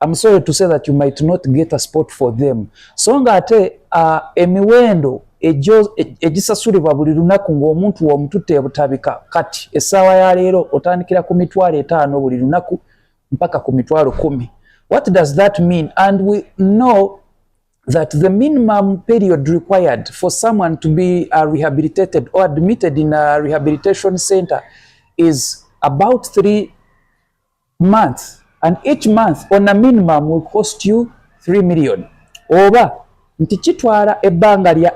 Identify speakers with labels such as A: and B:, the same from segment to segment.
A: I'm sorry to say that you might not get a spot for them so nga ate uh, emiwendo egisasulibwa buli lunaku ng'omuntu womututte ebutabika kati essaawa ya leero otandikira ku mitwalo etaano buli lunaku mpaka ku mitwalo kumi what does that mean and we know that the minimum period required for someone to be uh, rehabilitated or admitted in a rehabilitation center is about three months and each month on a minimum will cost you 3 million oba nti kitwala ebbanga lya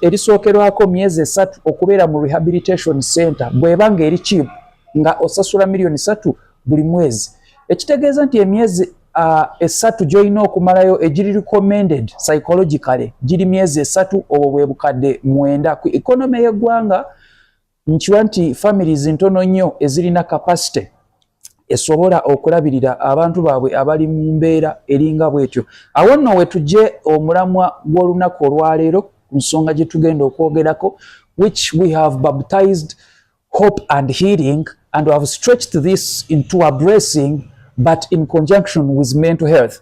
A: erisookerwako myezi esatu okubeera mu rehabilitation center bweba nga eri kiibu nga osasula miliyoni satu buli mwezi ekitegeeza nti emyezi uh, esatu gyolina okumalayo egiri recommended psychologically giri myezi esatu obwo bwe bukadde mwenda ku economy y'eggwanga nkiwa nti families ntono nnyo ezirina capacity esobola okulabirira abantu baabwe abali mu mbeera eringa bwetyo awo nno wetugye omulamwa gw'olunaku olwaleero ku nsonga gye tugenda okwogerako which we have baptized hope and healing and have stretched this into a bracing but in conjunction with mental health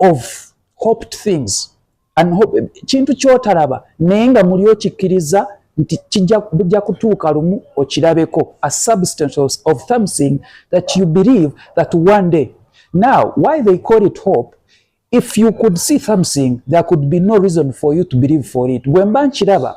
A: of hoped things and hope kintu kyotalaba naye nga muli okikkiriza nti kijja kutuuka lumu okirabeko a substance of something that you believe that one day now why they call it hope if you could see something there could be no reason for you to believe for it bwemba nkiraba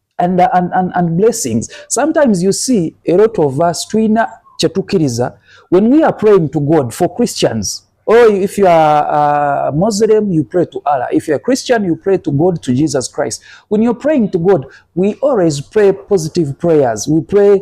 A: and, uh, and, and, and blessings sometimes you see a lot of us twina kyetukiriza when we are praying to god for christians or oh, if you are a uh, muslim you pray to allah if you're a christian you pray to god to jesus christ when you're praying to god we always pray positive prayers we pray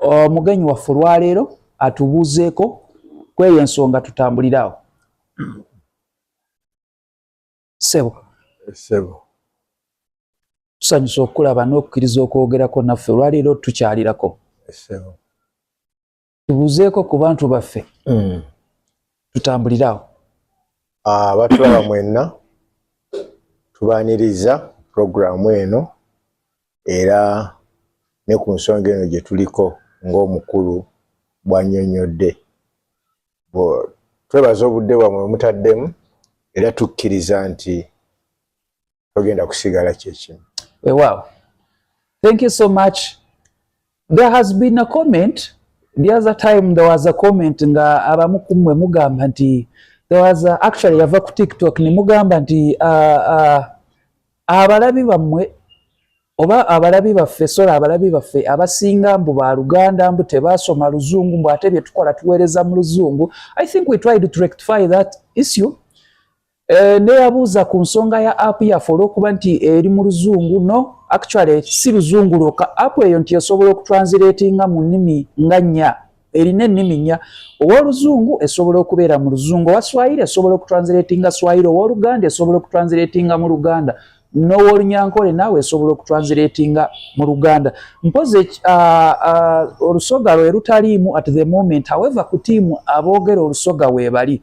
A: omugenyi waffe olwaleero atubuuzeeko kweyo ensonga tutambuliraawo sebo sebo tusanyusa okukulaba n'okukkiriza okwogerako naffe olwaleero tukyalirako sebo tubuuzeeko ku bantu baffe mm. tutambuliraawo ah,
B: abatulaba mwenna tubaniriza pulogulaamu eno era ne ku nsonga eno gye tuliko ng'omukulu bw'annyonnyodde twebaza obudde bwamwe mutaddemu era tukkiriza nti togenda kusigala kyekimu wewaawo
A: thank you so much There has been a comment the other time there was a comment nga abamu kumwe mugamba nti there was a, actually yava ku TikTok ne mugamba nti uh, uh, abalabi bamwe oba abalabi baffe sola abalabi baffe abasinga mbu ba luganda mbu tebasoma luzungu mbu ate bye tukola tuweereza mu luzungu i think we tried to rectify that issue Eh, neyabuuza ku nsonga ya app yaffe olwokuba nti eri mu luzungu no actually si luzungu lwoka app eyo nti esobola okutransilatinga mu nnimi nga nnya erina ennimi nnya owoluzungu esobola okubeera mu luzungu owa swahili esobola okutransilatinga swahili owoluganda esobola okutransilatinga mu luganda nowolunyankole naawe esobola okutransilatinga mu luganda mpozi ah, ah, olusoga lwe lutaliimu at the moment however ku tiimu aboogera olusoga weebali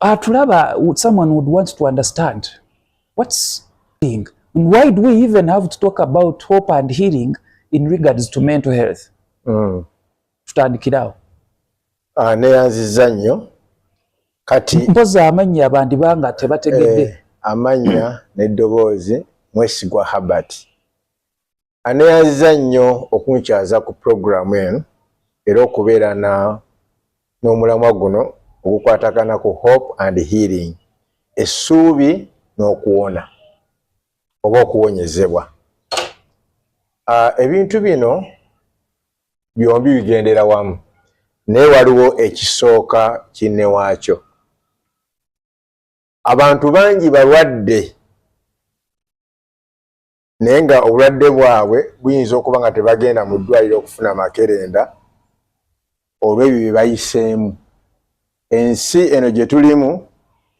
A: atulaba ah, someone would want to understand what's being and why do we even have to talk about hope and healing in regards to mental health mm. tutandikirawo
B: ah, neyanziza nnyo kati mpozi amannya
A: bandiba nga tebategedde eh, amannya
B: neddoboozi mwesigwa habert aneyanziza nnyo okunkyaza ku pulogulaamu eno era okubeera na n'omulamwa guno ogukwatagana ku hope and healing essuubi n'okuwona oba okuwonyezebwa ah, ebintu bino byombi bigendera wamu naye waliwo ekisooka kinne waakyo abantu bangi balwadde naye nga obulwadde bwabwe buyinza okuba nga tebagenda mu ddwaliro okufuna makerenda olw'ebyo bye bayiseemu ensi eno gye tulimu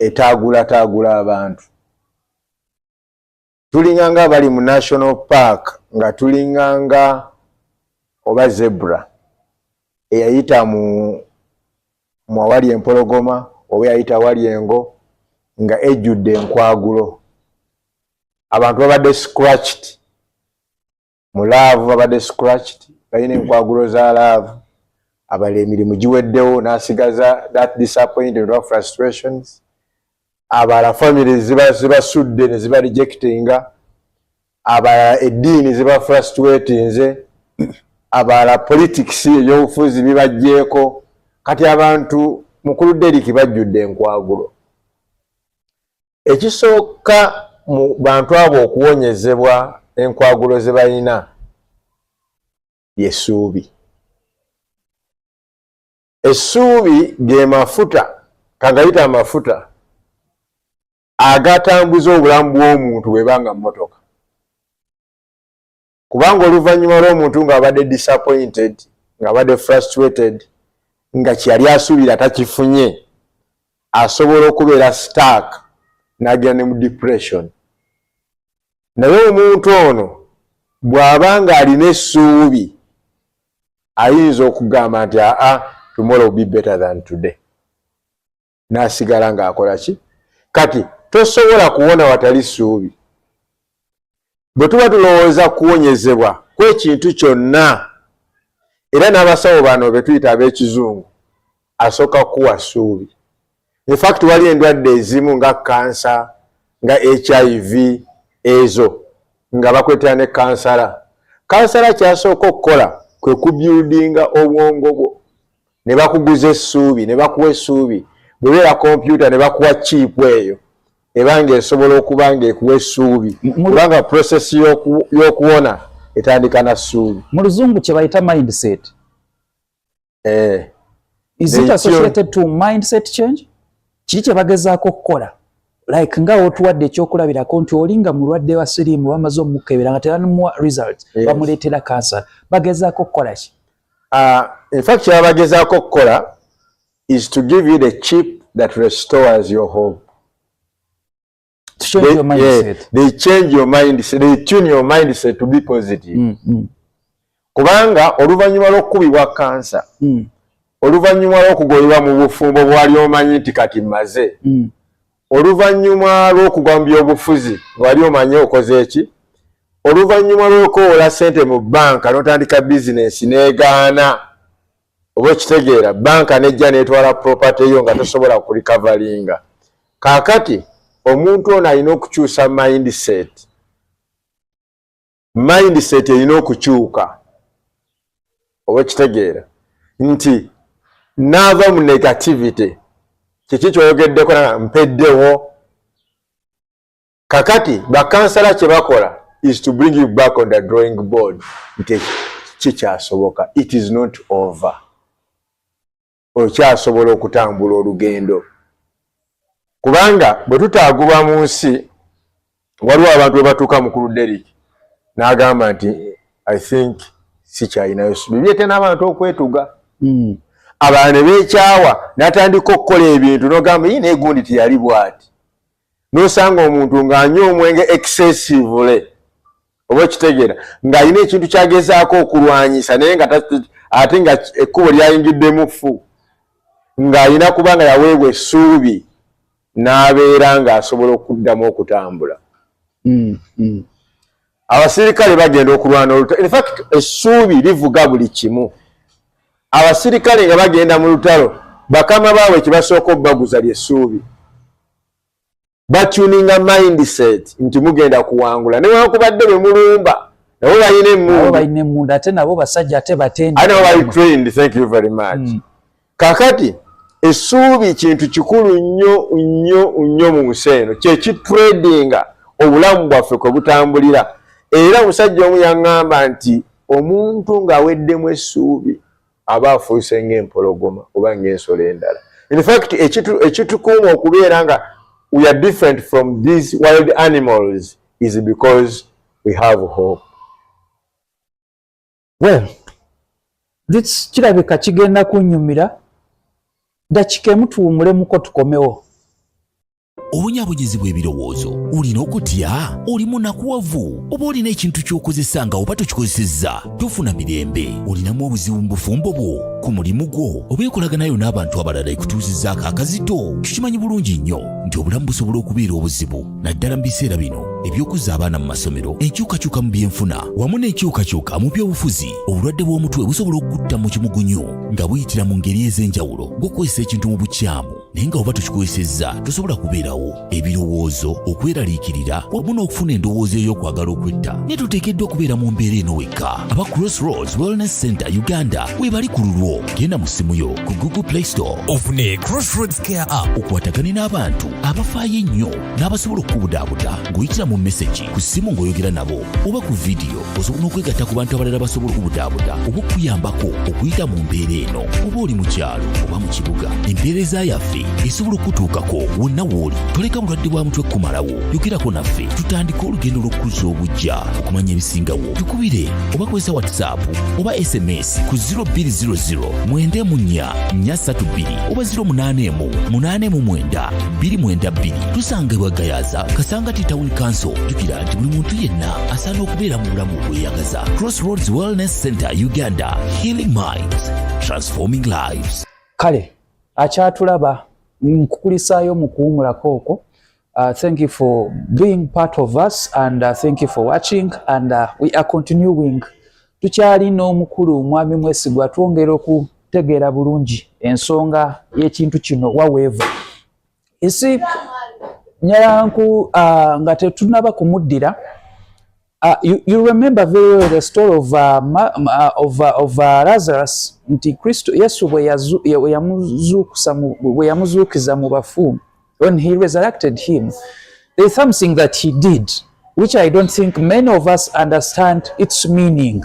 B: etaagulataagula abantu tulinga nga bali mu national park nga tulinga nga oba zebra eyayita mu mwawali empologoma oba eyayita wali engo nga ejjudde enkwagulo abantu babadde scratched mu laavu babadde scratched balina enkwagulo za laavu abala emirimu giweddewo n'asigaza that disappointed or frustrations abala family zibasudde ne ziba rejectinga abala eddiini ziba frustratinze abala politics eyobufuzi bibajjeeko kati abantu mukulu deriki bajjudde enkwagulo ekisooka mu bantu abo okuwonyezebwa enkwagulo ze balina yesuubi essuubi ge mafuta kagayita amafuta agatambuza obulamu bw'omuntu bweba nga mmotoka kubanga oluvannyuma lw'omuntu ng'abadde disappointed ng'abadde frustrated nga kyeyali asuubira takifunye asobola okubeera stark n'agenda ne mu depression naye omuntu ono bw'aba ng'alina essuubi ayinza okugamba nti aa tomorrow will be better than today n'asigala ng'akola ki kati tosobola kuwona watali ssuubi bwe tuba tulowooza kuwonyezebwa kwekintu kyonna era n'abasawo bano be tuyita ab'ekizungu asooka kukuwa ssuubi infakti wali endwadde ezimu nga kansa nga hiv ezo nga bakwetera ne kansala kansala kyasooka okukola kwe kubyudinga obwongo bwo ne bakuguza essuubi ne bakuwa essuubi bwebeera kompyuta ne bakuwa chiipu eyo eba nga esobola okuba nga ekuwa essuubi kubanga prosesi y'okuwona etandika na ssuubi mu luzungu kye bayita mindset eh. is it associated to mindset change kiri kye bagezaako okukola like nga otuwadde ekyokulabirako nti oli nga mulwadde wa siriimu bamaze omukebera nga teramuwa result bamuleetera cancer bagezaako okukola ki Uh, in fact kyaba bagezaako okukola is to give you the chip that restores your home to change they, your mindset. Yeah, they change your mindset. They tune your mindset to be positive. Mm, mm. Kubanga oluvannyuma lw'okukubibwa kansa mm. oluvannyuma lw'okugobebwa mu bufumbo bwali omanyi nti kati mmaze mm. oluvannyuma lw'okugwa mu byobufuzi wali omanyi okoze eki oluvannyuma lw'okoola ssente mu bbanka n'otandika bizinensi n'egaana oba okitegeera bbanka nejja n'etwala propate yo nga tosobola kulikavalinga kaakati omuntu ono alina okukyusa mindset mindset erina okukyuka oba kitegeera nti naava mu negativity kiki kyoyogeddeko mpeddewo kakati bakansala kyebakola is to bring you back on the drawing board nti kikyasoboka it is not over okyasobola okutambula olugendo kubanga bwe tutaagulwa mu nsi waliwo abantu bwe batuuka mukulu derik n'agamba nti i think sikyalinayo bibye te n'abantu okwetuga hmm. abantu ne beekyawa n'atandika okukola ebintu n'ogamba yi naye gundi teyali bwati nosanga omuntu nga anywa omwenge excessively oba okitegeera ng'alina ekintu kyagezaako okulwanyisa naye nga ate nga ekkubo lyayingiddemu ffu ng'alina kuba nga yaweebwa essuubi n'abeera ng'asobola okuddamu okutambula mm, mm. abasirikale bagenda okulwana olutalo infact essuubi livuga buli kimu abasirikale nga bagenda mu lutalo bakama baabwe kibasooka obubaguza lyessuubi batuninga mindset nti mugenda kuwangula newankubadde bemulumba nabo balina emunbalina emundu ate nabo basajja ate
A: batendabatrainedthankyouverymuch
B: mm. kakati esuubi kintu kikulu nnyo nnyo nnyo mu nsi eno kyekitradinga obulamu bwaffe kwe butambulira era omusajja omu yaŋŋamba nti omuntu ng'aweddemu essuubi aba afuuse ng'empologoma oba ng'ensolo endala in fact ekitukuuma okubeera nga we are different from these wild animals is because we have hope
A: well this kirabika kigenda kunyumira dakika emutuwumulemuko tukomewo
C: obunyaabonyezi bw'ebirowoozo olina okutya oli munakuwavu oba olina ekintu ky'okozesa nga oba tokikozesezza tofuna mirembe olinamu obuzibu mu bufumbo bwo ku mulimu gwo oba enkolaganayo n'abantu abalala ekutuuzizzaako akazito tukimanyi bulungi nnyo nti obulamu busobola okubeera obuzibu naddala mu biseera bino eby'okuzza abaana mu masomero enkyukakyuka mu byenfuna wamu n'enkyukakyuka mu by'obufuzi obulwadde bw'omutwe busobola okukutta mu kimugunyu nga buyitira mu ngeri ez'enjawulo ng'okukozesa ekintu mu bukyamu naye nga oba tukikozesezza tosobola kubeerawo ebirowoozo okweraliikirira wamu n'okufuna endowooza ey'okwagala okwetta naye tuteekeddwa okubeera mu mbeera eno wekka aba crossroads wellness center uganda webali ku lulwo genda mu ssimu yo ku google play store ofune crossroads care app okwatagane n'abantu abafaayo ennyo n'abasobola okukubudaabuda ng'oyitira mu mesegi ku ssimu ng'oyogera nabo oba ku vidiyo osobola n'okwegatta ku bantu abalala basobola okubudaabuda oba okuyambako okuyita mu mbeera eno oba oli mu kyalo oba mu kibuga empeereza yaffe esobola okutuukako wonna wooli toleka bulwadde bwa mutwe kumalawo yogerako naffe tutandike olugendo lw'okukuza obujja okumanya ebisingawo tukubire oba kozesa whatsapp oba sms ku 0200 mwenda emu nnya nnya ssatu bbiri oba 08 emu munaana emu mwenda bbiri mwenda bbiri tusanga ebwagayaza kasangati tawuni kanso jukira nti buli muntu yenna asaana okubeera mu bulamu obweyagaza crossroads wellness center uganda healing minds transforming lives kale
A: akyatulaba nkukulisaayo mu kuwumulako okwo Uh, thank you for being part of us and uh, thank you for watching and uh, we are continuing tukyali n'omukulu omwami mwesigwa twongera okutegeera bulungi ensonga y'ekintu kino waweeva isi nyalanku uh, nga tetunaba kumuddira uh, you, you remember very well the story of, uh, ma, uh, of, uh, of uh, lazarus nti kristo yesu bweyamuzuukiza mu bafu when he resurrected him there's something that he did which i don't think many of us understand its meaning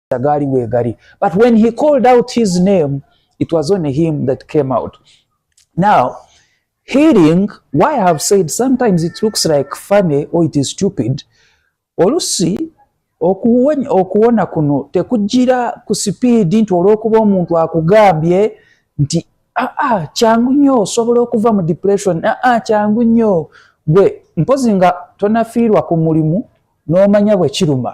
A: gaali weegali but when he called out his name it was only him that came out now healing why i have said sometimes it looks like funny or it is stupid olusi okuwona kuno tekujira ku sipiidi nti olwokuba omuntu akugambye nti aa ah, ah, kyangu nnyo osobola okuva mu depression aa ah, kyangu nnyo gwe mpozi nga tonafiirwa ku mulimu n'omanya bwe kiruma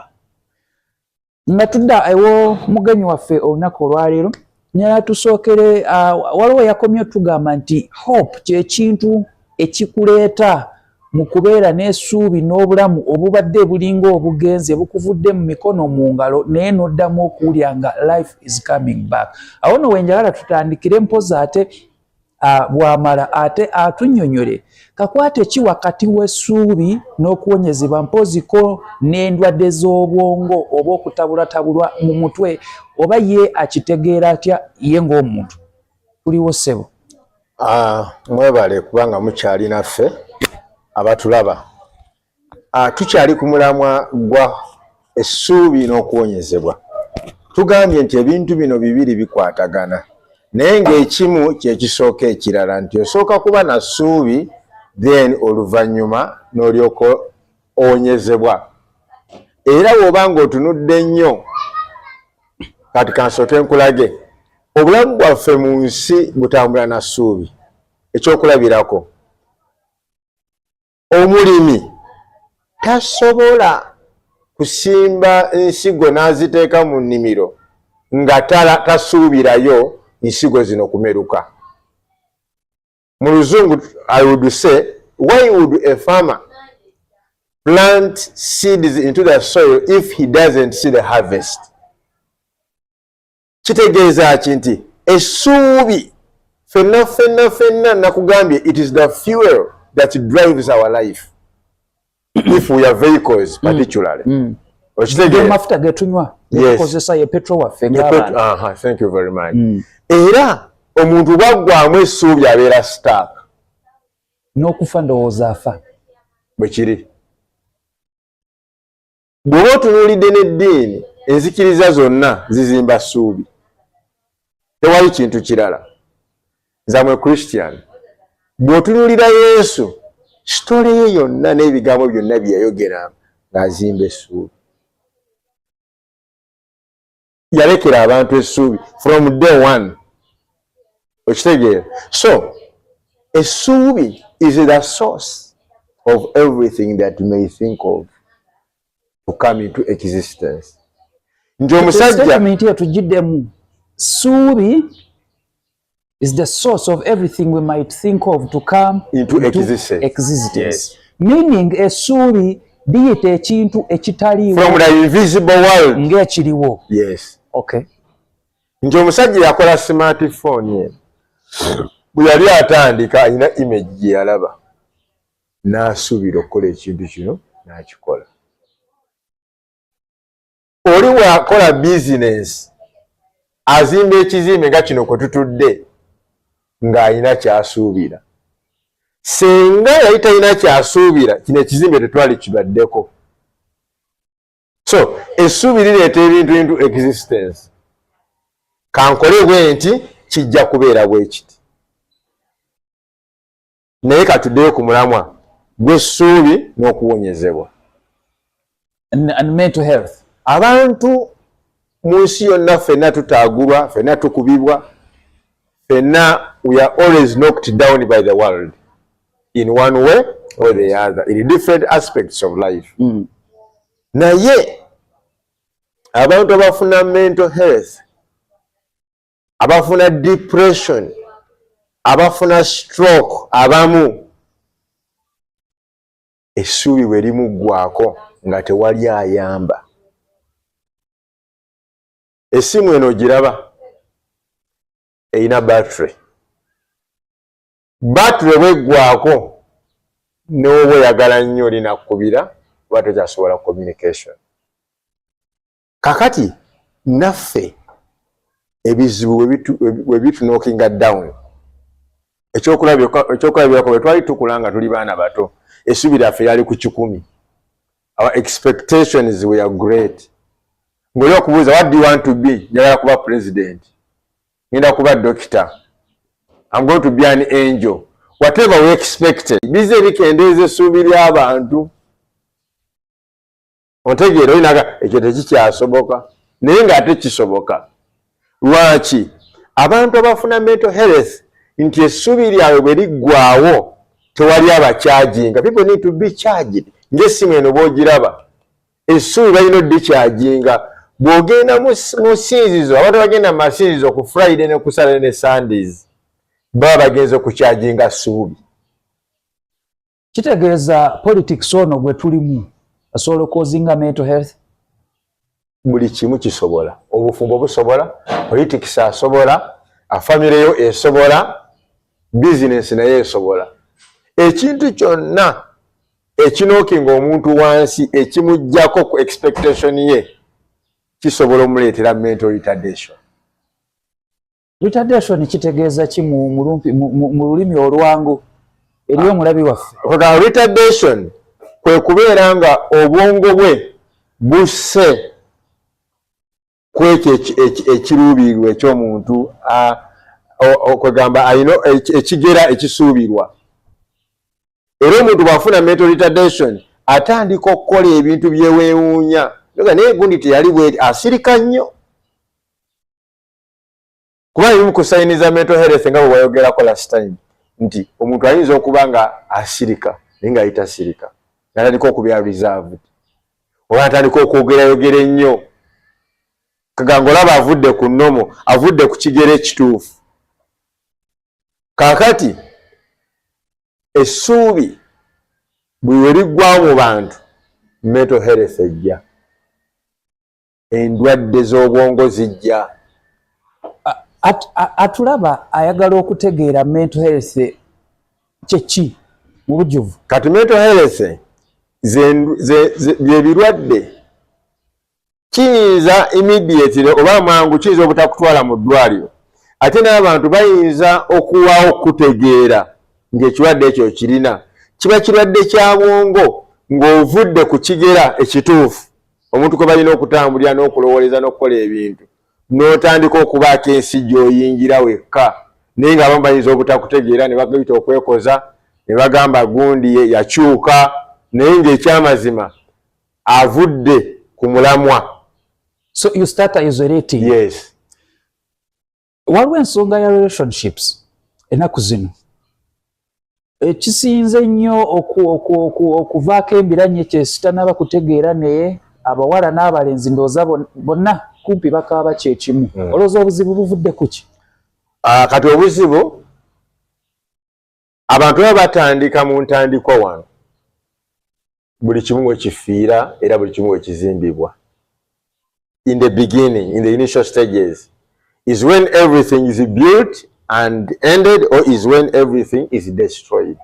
A: nga tudda ewo mugenyi waffe olunaku olwaleero nyala tusookere uh, waliwo yakomye otugamba nti hope kyekintu ekikuleeta mu kubeera n'esuubi n'obulamu obubadde bulinga obugenze bukuvudde mu mikono mu ngalo naye n'oddamu okuwulira nga life is coming back awo no wenjagala tutandikire mpozi ate bwamala ate atunyonyole kakwate ki wakati w'essuubi n'okuwonyezebwa mpooziko n'endwadde z'obwongo oba okutabulatabulwa mu mutwe oba ye akitegeera atya ye ng'omuntu tuliwo ssebo
B: mwebale kubanga mukyali naffe abatulaba Ah, tukyali ku mulamwa gwa essuubi n'okuwonyezebwa tugambye nti ebintu bino bibiri bikwatagana naye ng'ekimu kyekisooka ekirala nti osooka kuba na ssuubi then oluvannyuma n'olyoka owonyezebwa era woba ng'otunudde nnyo kati kansooke nkulage obulamu bwaffe mu nsi butambula na ssuubi ekyokulabirako omulimi tasobola kusimba nsigo n'aziteeka mu nnimiro nga tasuubirayo nsigo zino kumeruka mu luzungu i would say why would a farmer plant seeds into the soil if he doesn't see the harvest kitegeeza ki nti essuubi fenna fenna fenna nakugambye it is the fuel that drives our life if we are vehicles mm. particularly mm. okitegeeramafuta
A: getunywa ekozesa ye petro waffe thank you very much mm.
B: era omuntu bwaggwamu essuubi abeera stark
A: n'okufa ndowooza afa bwe kiri
B: bw'oba otunuulidde n'eddiini enzikiriza zonna zizimba ssuubi tewali kintu kirala zamwe christian bw'otunuulira yesu sitole ye yonna n'ebigambo byonna bye yayogera ng'azimba essuubi yalekera abantu essuubi from day one okitegeera so essuubi is the source of everything that you may think of to come into existence nti omusajja eyo tugidemu
A: suubi is the source of everything we might think of to come into, into existence,
B: existence. Yes.
A: meaning esuubi biyita ekintu ekitaliwongaekiriwo
B: yes. okay.
A: nti
B: omusajja yakola smartphone ye bwe yali atandika alina image gye yalaba n'asuubira okukola ekintu kino n'akikola oli bwakola bizinensi azimba ekizimbe nga kino kwe tutudde ng'alina kyasuubira senga yali talina kyasuubira kino ekizimbe tetwali kibaddeko so essuubi lireeta ebintu bintu existence kankole bwe nti kijja kubeera bwe kiti naye katuddeyo ku mulamwa gw'essuubi n'okuwonyezebwa
A: abantu
B: mu nsi yonna fenna tutaagulwa fenna tukubibwa fenna we are always knocked down by the world in one way or the other in different aspects of life mm. naye abantu abafuna mental health abafuna depression abafuna stroke abamu essuubi bwe limuggwako nga tewali ayamba essimu eno giraba erina battery battery bweggwako n'oba oyagala nnyo linakkubira oba tokyasobola communication kakati naffe ebizibu we bitunokinga down ekyokulabirako bwe twali tukula nga tuli baana bato esubi lyaffe lyali ku kikumi our expectations were great ngaoli okubuuza what do you want to be njagala kuba president ngenda kuba dokita am going to be an angel whatever we expected bize bikendeeza esuubi ly'abantu ontegeera oyinaga ekyo tekikyasoboka naye ngaate kisoboka lwaki abantu abafuna mental health nti essuubi lyabwe bwe liggwawo tewali abakyajinga people need to be charged ngaessimu eno bwogiraba essuubi balina oddikyajinga bw'ogenda mu sinzizo abantu bagenda mu masinzizo ku friday ne kusale ne sundays baba bagenze okukyajinga suubi
A: kitegeeza politics ono gwe tulimu asobola okozinga mental health
B: buli kimu kisobola obufumbo busobola politics asobola afamire yo esobola bizinesi naye esobola ekintu kyonna ekinookinga omuntu wansi ekimugjako ku expectation ye kisobola omuleetera mental retardation Retardation
A: kitegeeza ki mu mulumpi mu lulimi olwangu eri ah. omulabi waffe? Oga retardation
B: kwe kubeera nga obwongo bwe busse kwekyo ekiruubirirwa eky'omuntu kwegamba alina ekigera ekisuubirwa era omuntu bw'afuna mental retardation atandika okukola ebintu byewewuunya naye gundi teyali bweri asirika nnyo kuba ebimu ku sayini za mental health nga bwe wayogerako last time nti omuntu ayinza okuba nga asirika naye nga ayita sirika natandika okubeera reserved oba natandika okwogerayogera ennyo kaganga olaba avudde ku nomo avudde ku kigero ekituufu kakati essuubi buli we liggwawo mu bantu mental health ejja endwadde z'obwongo zijja
A: atulaba ayagala okutegeera mental health kyeki mu bujuvu kati mental health
B: byebirwadde kiyinza immediately oba mangu kiyinza obutakutwala mu ddwaliro ate n'abantu bayinza okuwawo okutegeera ng'ekirwadde ekyo kirina kiba kirwadde kya bwongo ng'ovudde ku kigera ekituufu omuntu kwe balina okutambulira n'okulowooleza n'okukola ebintu n'otandika okubaako ensi gy'oyingira wekka naye ng'abamu bayinza obutakutegeera ne bagayita okwekoza ne bagamba gundi yakyuka naye ng'ekyamazima avudde ku mulamwa so you
A: start isolating yes waliwo ensonga ya relationships enaku zino ekisinze nnyo okuvaako embiranye kyesitanaba kutegeera naye abawala n'abalenzi ndooza bonna kumpi bakaaba kyekimu hmm. olowooza obuzibu buvudde kuki ah, kati
B: obuzibu abantu baba batandika mu ntandikwa wano buli kimu wekifiira era buli kimu wekizimbibwa in the beginning in the initial stages is when everything is built and ended or is when everything is destroyed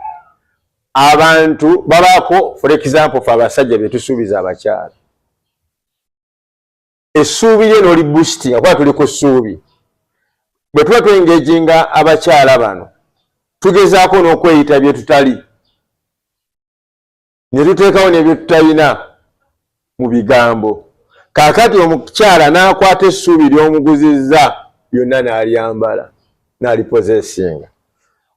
B: abantu babako for example fe abasajja betusuubiza abakyala essuubi lye noli boostinga kuba tuli ku ssuubi bwe tuba twengejinga abakyala bano tugezaako n'okweyita bye tutali ne tuteekawo nebye tutalina mu bigambo kaakati omukyala n'akwata essuubi ly'omuguzizza lyonna n'alyambala n'alipozesinga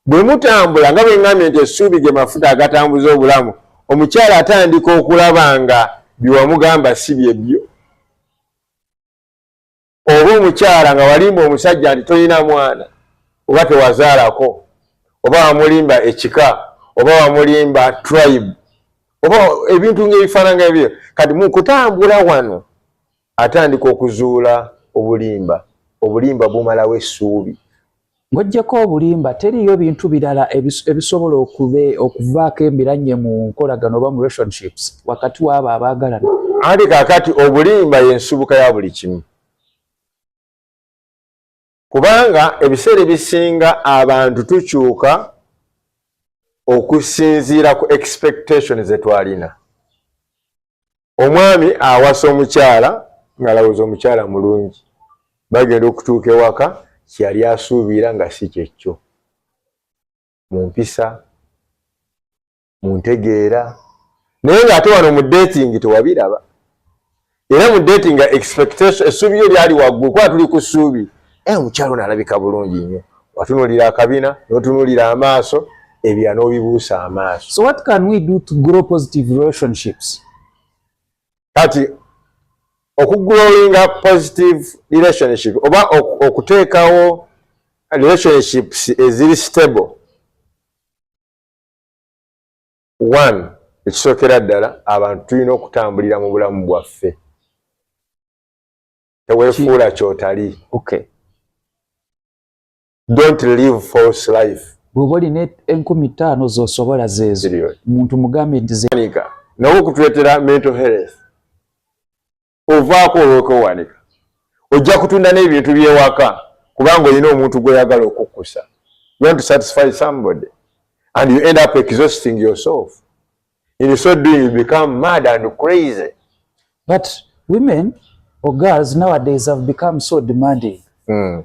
B: Bwe mutambula nga bwe ŋŋambye nti essuubi ge mafuta agatambuza obulamu, omukyala atandika okulaba nga bye wamugamba si bye byo. Oba omukyala nga walimba omusajja nti tolina mwana oba tewazaalako oba wamulimba ekika oba wamulimba tribe oba ebintu ng'ebifaananga ebyo kati mu kutambula wano Atandika okuzuula obulimba. Obulimba bumalawo essuubi. Ng'oggyeko
A: obulimba, teriiyo bintu birala ebisobola okuvaako embiranye mu nkolagana oba mu relationships wakati w'abo abaagalana. Anti kaakati
B: obulimba y'ensibuka ya buli kimu. kubanga ebiseera ebisinga abantu tukyuka okusinziira ku expectation zetwalina omwami awasa omukyala ngaalowooza omukyala mulungi bagenda okutuuka ewaka kyeyali asuubira nga si kyekyo mu mpisa muntegeera naye nga ate wano mu dating tewabiraba era mu dating nga expectation essuubi yo lyali waggulu kuba tuli ku ssuubi e omukyalo nalabika bulungi nnyo watunulira akabina notunulira amaaso ebya nobibuusa amaaso so what can we do to
A: grow positive relationships
B: kati okugrowinga positive relationship oba okuteekawo relationships eziri stable one ekisookera ddala abantu tulina okutambulira mu bulamu bwaffe tewefuula kyotali okay. don't live false life bwoba olina
A: enkumi ttaano zosobola zezo muntu mugambe nti nawe okutwetera
B: mental health ovaako olwokwewanika ojja kutunda n'ebintu byewaka kubanga olina omuntu gweyagala okukkusa you want to satisfy somebody and you end up exhausting yourself in so doing you become mad and crazy but
A: women or girls nowadays have become so demanding mm.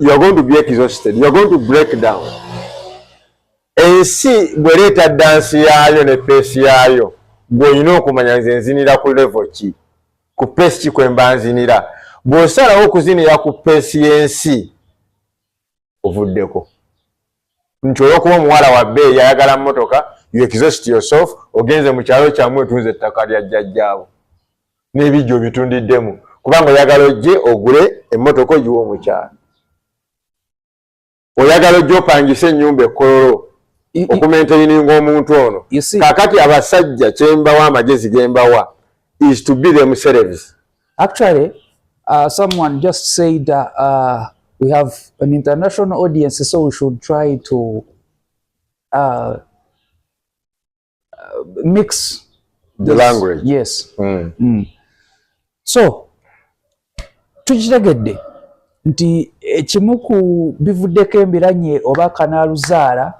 B: you are going to be exhausted you are going to break down ensi bwereeta dansi yaayo ne peesi yaayo gweolina okumanya nze nzinira ku levo ki ku peesi ki kwemba nzinira bw'osalawo okuzinira ku peesi y'ensi ovuddeko nti olwokuba omuwala wa bbeeyi ayagala mmotoka you exhaust yourself ogenze mu kyalo kyamu otunze ettaka lya jjajjaabo n'ebijja obitundiddemu kubanga oyagala ojje ogule emmotoka ogiwa omukyalo oyagala ojja opangise ennyumba ekkololo okumentaininga omuntu ono kakati abasajja kyembawa amagezi gembawa is to be themselves Actually,
A: uh, someone just said uh, uh, we have an international audience, so we should try to uh, uh mix the this. language.
B: Yes. Mm.
A: Mm. So, tukitegedde nti ekimu ku bivuddeko embiranye oba kanaaluzaala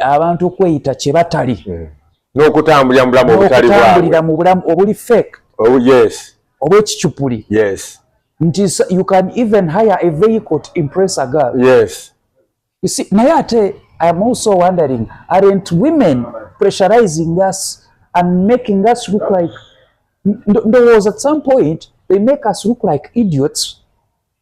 A: abantu okweyita kye batali hmm. n'okutambulira
B: mu bulamu obutali bwabwe n'okutambulira mu bulamu obuli
A: fake oh, yes
B: obw'ekicupuli
A: yes
B: nti you
A: can even hire a vehicle to impress a girl yes
B: you see
A: naye ate i am also wondering aren't women pressurizing us and making us look like there was at some point they make us look like idiots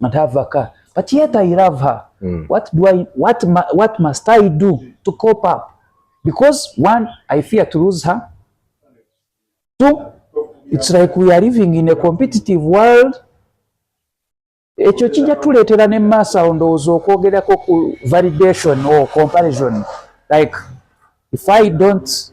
A: and have a car but yet I love her mm. what do I what what must I do to cope up because one I fear to lose her two it's like we are living in a competitive world ekyo kijja tuleetera ne maaso awo ndowooza okwogerako ku validation or comparison like if I don't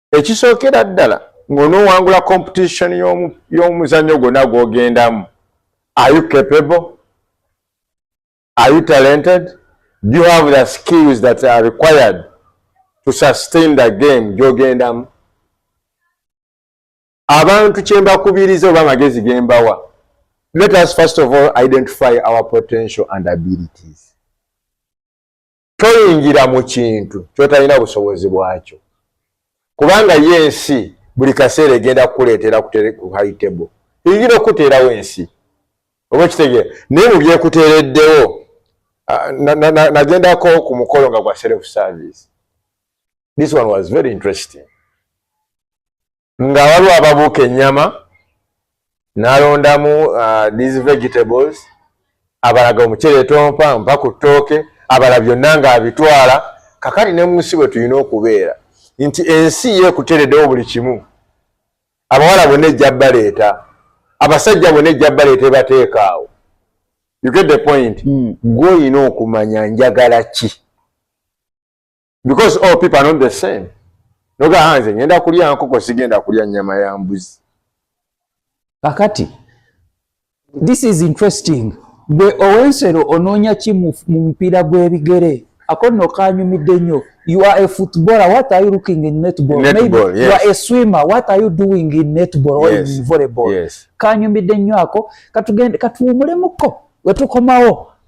B: ekisookera ddala ng'onoowangula competition y'omuzannyo gwonna gw'ogendamu are you capable are you talented do you have the skills that are required to sustain the game gy'ogendamu abantu kye mbakubiriza oba amagezi ge mbawa let us first of all identify our potential and abilities toyingira mu kintu kyotalina busobozi bwakyo kubanga ye ensi buli kaseera egenda kukuleetera ku high table eyingira okukuteerawo ensi oba okitegere naye mu byekuteereddewo nagendako ku mukolo nga gwa self service this one was very interesting nga waliwo ababuuka ennyama nalondamu uh, these vegetables abalaga omuceere tompa mpa ku ttooke abala byonna ng'abitwala kakati ne munsi bwe tulina okubeera nti ensi yeekuteredewo buli kimu abawala bonna ejja baleeta abasajja bonna ejja baleeta ebateekaawo you get the point hmm. gwe mm. olina okumanya njagala ki because all people are not the same noga hanze ah, ngenda kulya nkoko sigenda kulya nyama ya mbuzi
A: kakati this is interesting gwe owensero onoonya ki mu mupiira gw'ebigere ako nno kanyumidde nnyo you are a footballer what are you looking in netball, netball maybe yes. you are a
B: swimmer
A: what are you doing in netball or yes. in volleyball yes. kanyumidde
B: nnyo ako
A: katuwumulemuko wetukomawo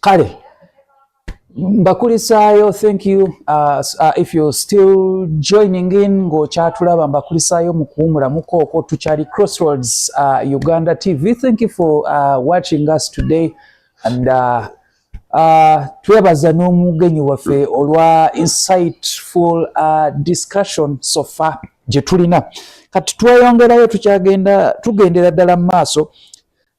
D: kale
A: mbakulisaayo thank you uh, uh, if you still joining in ng'okyatulaba mbakulisaayo mu kuwumulamuko okwo tukyali crossroads uh, uganda tv thank you for uh, watching us today and uh, uh, twebaza n'omugenyi waffe olwa insightful uh, discussion so far gye tulina kati tweyongerayo tukyagenda tugendera ddala mu maaso